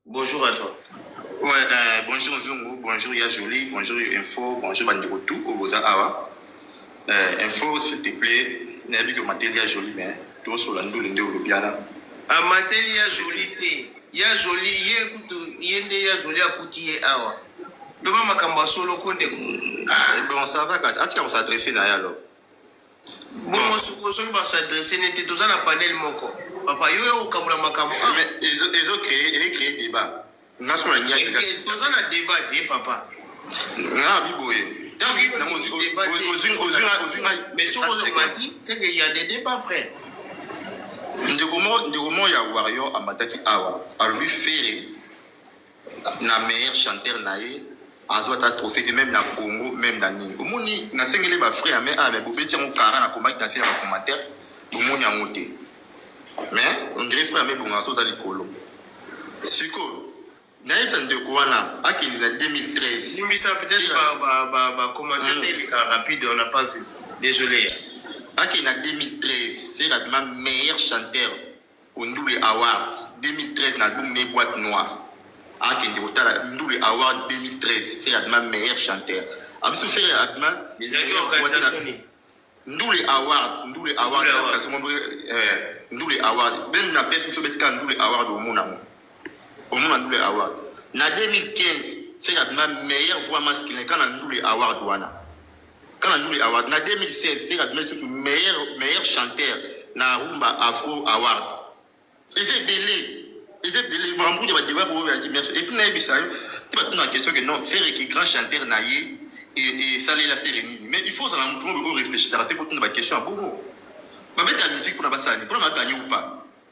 Bonjour à toi. Ouais, euh, bonjour Zungu, bonjour Ya Jolie, bonjour Info, bonjour Bandeko tout, Oboza Awa. Euh, info, s'il te plaît, nayebi que mateli Ya Jolie, mais tout sur la ndoule nde olobiana. Ah, mateli Ya Jolie te. Ya Jolie, ye kutu, ye nde Ya Jolie akuti ye awa. Doma makambo ya solo ko ndeko. Ah, bon, ça va, atika ko s'adresser na ye alors. Bongo sikoyo soki ba s'adresser ne te toza na panel moko papa yo ya kokabola makambo ah. Mais ezo ezo créer e créer débat. Nga siko na niaki nga. Toza na débat te papa. Nga bi boye. Tangi na mozi ozui ozui ozui ngai. Mais soko ozo mati c'est que il y a des débats frère. Ndeko mo ndeko mo ya warrior amataki awa alobi ferre na meilleur chanteur na ye azwa ata trophée te meme na congo meme na nini omoni nasengeli bafrai ya me a me bobeti yango kara nakomaki na se ya bacommentaire bomoni yango te mais ondire frai ya me bonga so oza likolo sikoyo nayebisa ndeko wana akende na 2013 limbisa peut-être bacommentaire ba, ba, ba, eleka hmm. rapide on n'a pas vu désolé akende na 2013 ferre abima meilleur chanteur O Ndule Award 2013 na album ne Boite Noire. Akende kotala Ndule Award 2013, Ferre Adma meilleur chanteur. Abisu Ferre Adma Ezalaki meilleur voix de la- organisation nini? Ndule Award, Ndule Award, Ndule Award. Kasongo Ndule, eh, Ndule Award. Même na Facebook, soki obetika Ndule Award, omona ngo. Omona Ndule Award. Na 2015, Ferre Adma meilleur voix masculin, kana Ndule Award wana. Kala Lule Award na 2016 Ferre abimaki lisusu meilleur meilleur chanteur na Rumba Afro Award. Eza ebele eza ebele makambo kutu ya ba debat oyo ya merci et puis nayebisa yo te batuna na question que non Ferre ki grand chanteur na ye esalela Ferre nini mais il faut ozala moto moko oyo réfléchissaka te mpo tuna ba question ya bongo babeta musique mpona basala nini mpona baganye ou pas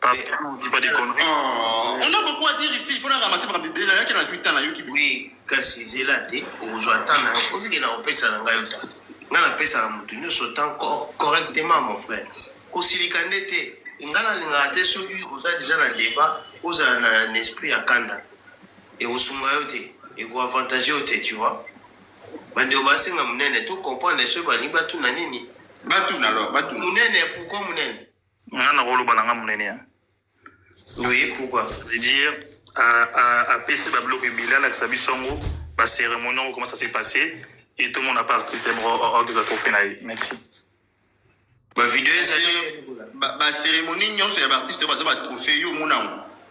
Parce que vous dites pas des conneries. Oh, on a beaucoup à dire ici. Il faut la ramasser par bébé. Là, il y a qu'elle a 8 ans, là, Yuki. Oui, kasi zela te, okozwa temps na yo, olingi na kopesa na ngai yo temps. Ngai napesa na moto nyonso temps co- correctement, mon frère. Kosilika nde te. Ngai nalingaka te soki oza deja na débat, ozala na na esprit ya kanda. Ekosunga yo te, ekoavantage yo te, tu vois. Bandeko basenga monene, to comprendre soki balingi batuna nini. Batuna alors, batuna. Munene, pourquoi munene nga nakoloba na nga monene ya oye pourquoi je dire apesi babiloko ebele alakisa biso yango bacérémonie yango comment ça se passé et tout mon aparti te moko orgeza trophée na ye merci bavideo ezali bacérémonie nyonso ya baartiste oyo baza batrophée yo omona yango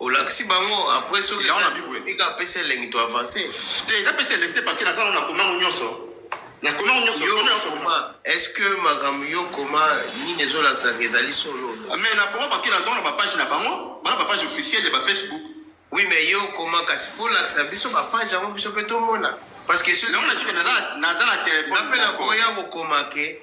olakisi bango après soki Yango na Bible. tika apesi elengi to avance te eza pesa elengi te parceke naza na komango nyonso na komango nyonso yo kono nyonso koma est ce que makambo yo koma nini ezolakisaka ezali solo mais na koma parceke naza na bapage na bango bana bapage officielle ya bafacebook oui mais yo koma kasi fo olakisa biso bapage yango biso mpe tomona parce que soki yango na sika naza na- naza na telefone napela koya kokoma ke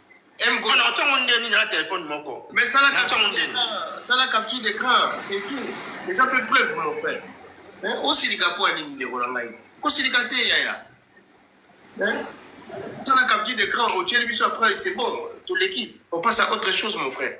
Mgo na otango ndeni na téléphone moko. Mais ça la capture ndeni. Ça la capture d'écran, c'est tout. Et ça fait preuve mon frère. Hein? Osilika po ani ndeko na ngai. Kosilika te yaya. Hein? Ça la capture d'écran, otieli biso après, c'est bon. Tout l'équipe. On passe à autre chose mon frère.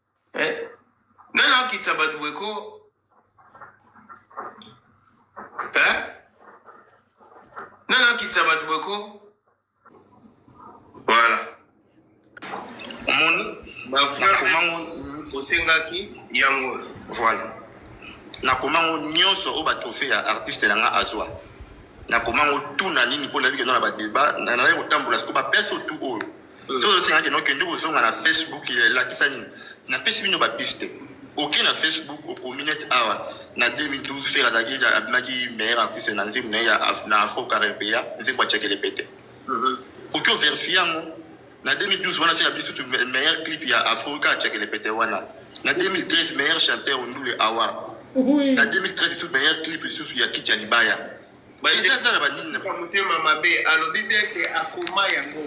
Eh, nani akitisa bato boye ko eh? nani akitisa bato boye ko voilà omoni bakomango osengaki yango voilà nakomango nyonso oyo batrofe ya artiste na nga azwa nakomango tuna nini mpo nayebi kenda na badeba nazali kotambola siko bapese otu oyo soki osenga kende okende kozonga na facebook elakisa nini napesi bino bapiste oke na facebook okomi neti awa na 2012 fer azalaki abimaki meilleur artiste na nzembo na ye na afro caribea nzembo ya cekele pete mhm. oke overfie yango na 2012 wana fer abiso tu meilleur clip ya afro kaka cekele pete wana na 2013 meilleur chanteur ondule awa na 2013 tu meilleur clip lisusu ya kicha libaya Baite aza na banini na motema mabe alobi bien ke akoma yango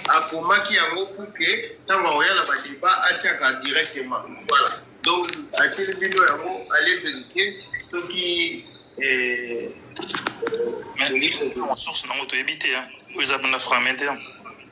akomaki yango pour ke ntango akoya na badeba atiaka directement voilà donc atili bino yango ale verifie soki eh, source nango toyebi te oyo eza banda fragmentaire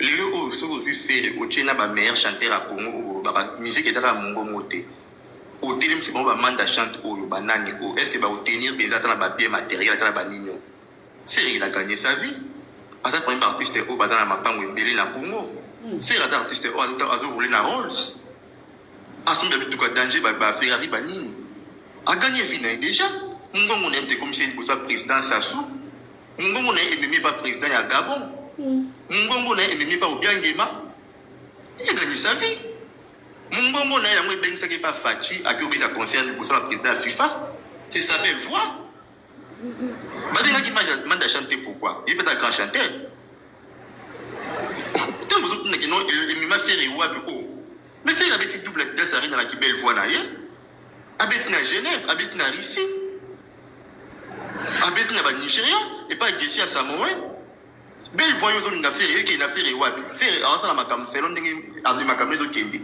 Lelo oyo soki ozwi Ferre otie na ba meilleurs chanteurs ya Congo oyo bolobaka musique eza kaka mongo moko te, otelemisi bango ba manda chante oyo ba nani oyo est ce que ba ko tenir penza ata na ba biens materiels ata na ba nini oyo? Ferre il a gagne sa vie aza parmi ba artistes oyo baza na mapango ebele na Congo. Ferre aza artiste oyo azo azo rouler na Rolls asombi ba mituka danger ba, ba Ferrari ba nini a gagne vie na ye deja. Mongongo na ye moto ekomisi ye liboso ya president Sassou. Mungongo na ye ememi epa president ya Gabon. Mungongo na ye ememi epa Obiangema. Il a gagné sa vie. Mungongo na ye yango ebengisaki epa Fatshi ake obeta concert liboso ya president ya FIFA. C'est sa belle voix. Babengaki Manda chante pourquoi? Ye peta grand chanteur. Tango ozotuna kino emema Ferre wapi o. Oh. Mais Ferre abeti double glace arena na ki belle voix na ye. abeti na genève abeti na russie abeti na banigeria epai gesi ya samoe belle voye ozolinga fere ekei na fere wapi fere aosala makambo selo ndenge azwi makambo ezokende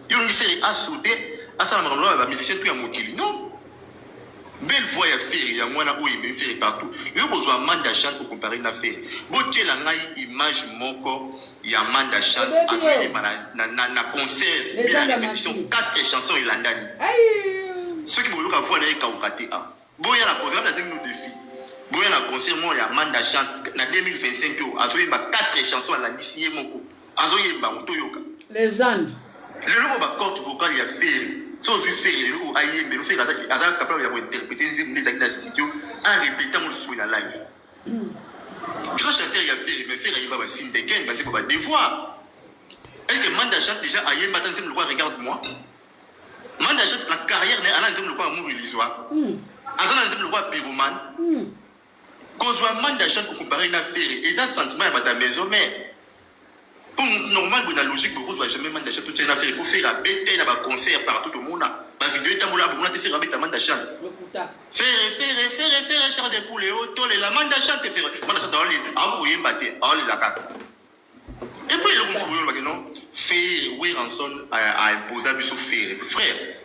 yo olingi fere asude asala makambo loba bamusicien tu ya mokili non belle voix ya fere yango wana oyo ememi fere partout yo bozwa manda chante kocompare na fere botyela ngai image moko ya Manda Chan azoyemba na, na, na, na concert mpe na repetition 4 chanson elandani soki boyoka voix na ye ekauka te a ah. boya na programme nasengi no defi boya na concert moko ya Manda Chan na 2025 oyo azoyemba 4 chanson alandisi ye moko azoyemba yango toyoka legende lelo oyo bacorte vocale ya fere so ozwi fere lelo oyo ayembelo fere aza capable ya kointerprete nzembo nde ezali na studio arepeta yango lisusu na live Grand chanteur ya Ferre, mais Ferre ayemba ba film de Ken, ba zimba ba devoir. Est-ce que Manda Jacques déjà ayemba ta zimba quoi regarde-moi? Manda Jacques la carrière ne ana zimba quoi amour illusoire. Hmm. Azana zimba quoi pyromane. Hmm. Kozwa Manda Jacques comparé na Ferre, et ça sentiment ya ba ta maison mère. Comme normal boye na logique boye kozwa jamais manda chan totia na fere po fere abeta na ba concert partout tomona ba video etambola bomona te fere abeta manda chan fere fere fere fere char de poule o tolela manda chan te fere manda chan aoli ako koyemba te aolela kaka et puis eloko mosusu boyolobaki non fere weranson aimposa biso fere frère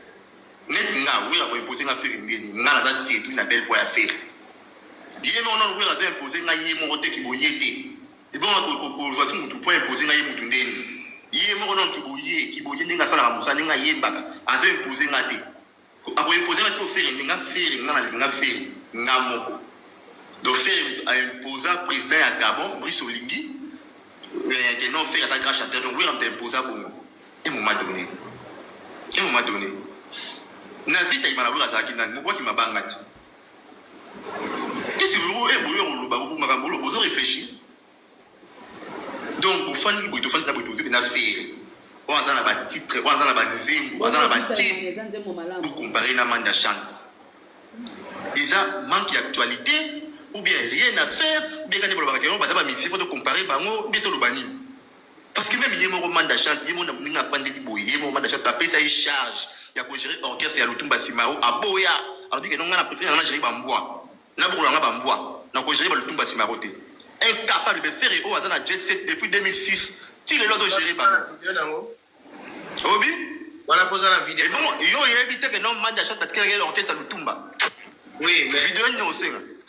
neti nga wera koimpose nga fere ndeni nga naza sedui na belle voix ya fere ye moko nano wera azo impose nga ye moko te kiboye te ebonga kokozwa ti motu mpo impose ngai ye motu ndeni ye moko nano kiboye kiboye ndenge asalaka mosala ndenge ayembaka azo impose nga te akoimpose nga siko fere ndenge fere nga nalingi nga fere nga moko donc fere aimposa président ya gabon brice olingi eh, que non fere ata grand chanteur donc wera moto aimposa bongo e moment donné e moment donné na vita ibana wera azalaki nani mobwaki mabanga ti Esi yo e boyo koloba ko makambo lo bozo réfléchir. Donc bofandi boye tofandi na boye tozepe na fere. Oyo aza na ba titre, oyo aza na ba nzembo, aza na ba titre. Vous comparez na manda chante. Eza manque d'actualité ou bien rien à faire, ou bien quand ils veulent baza ba misi, faut comparer bango, bien toloba nini. Parce que meme ye moko Manda Chante, ye moko ndenge afandeli boye, ye moko Manda Chante apesa ye charge ya ko gérer orchestre ya Lutumba Simaro, aboya. Alobi que non, nga na prefere na gérer ba mbwa, na bokola nga ba mbwa, na ko gérer ba Lutumba Simaro te. Incapable, mais Ferre oyo aza na Jet Set depuis 2006, ti lelo azo gerer bango. Obi? Wana poza na video. Ebongo yo oyebi te que non Manda Chante atikela ye orchestre ya Lutumba? Oui, mais video nini osenga?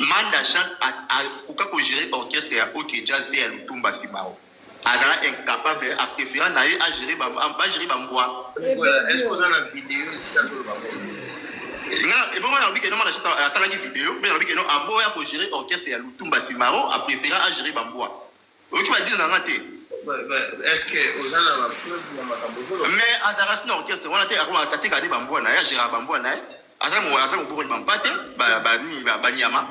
Manda Jean a, a koka ko gerer orchestre ya OK Jazz te ya Lutumba Simao. Azala incapable, a prefera na ye a gerer ba ba gerer ba mbwa. Est-ce que oza na video esika to loba ko? Nga ebongo na bike no manda Jean asalaki video, mais na bike no aboya ko gerer orchestre ya Lutumba Simao, a prefera a gerer ba mbwa. oyoki badile na nga te mais azalaka sina orchestre wana te akoma atika ade bambwa na ye agéraka bambwa na ye aza mobokoli bampate banyama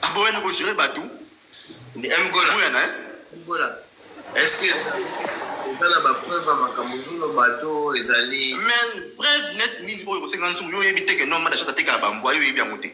aboya na kogere bato boya na ye tala bapreuve ya makambo ozoloba to ezali mais preuve net nini oyo kosenga nsuku yo oyebi te ke nomada shata tekaka bambwa yo oyebi yango te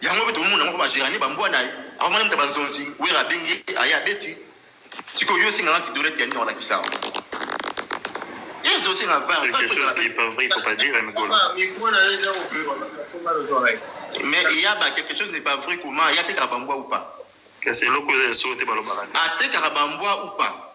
yango mpe tomona moko bagerani bambwa na ye akomana mta banzonzi wera abengi aye abeti sikoyo yo osengaka vidolete ya nini olakisa yango yesu osenga mais eya ba quelque chose n'est pas vrai comment ya tekaka bambwa ou pas kasi eloko eza ya solo te balobaka atekaka bambwa ou pas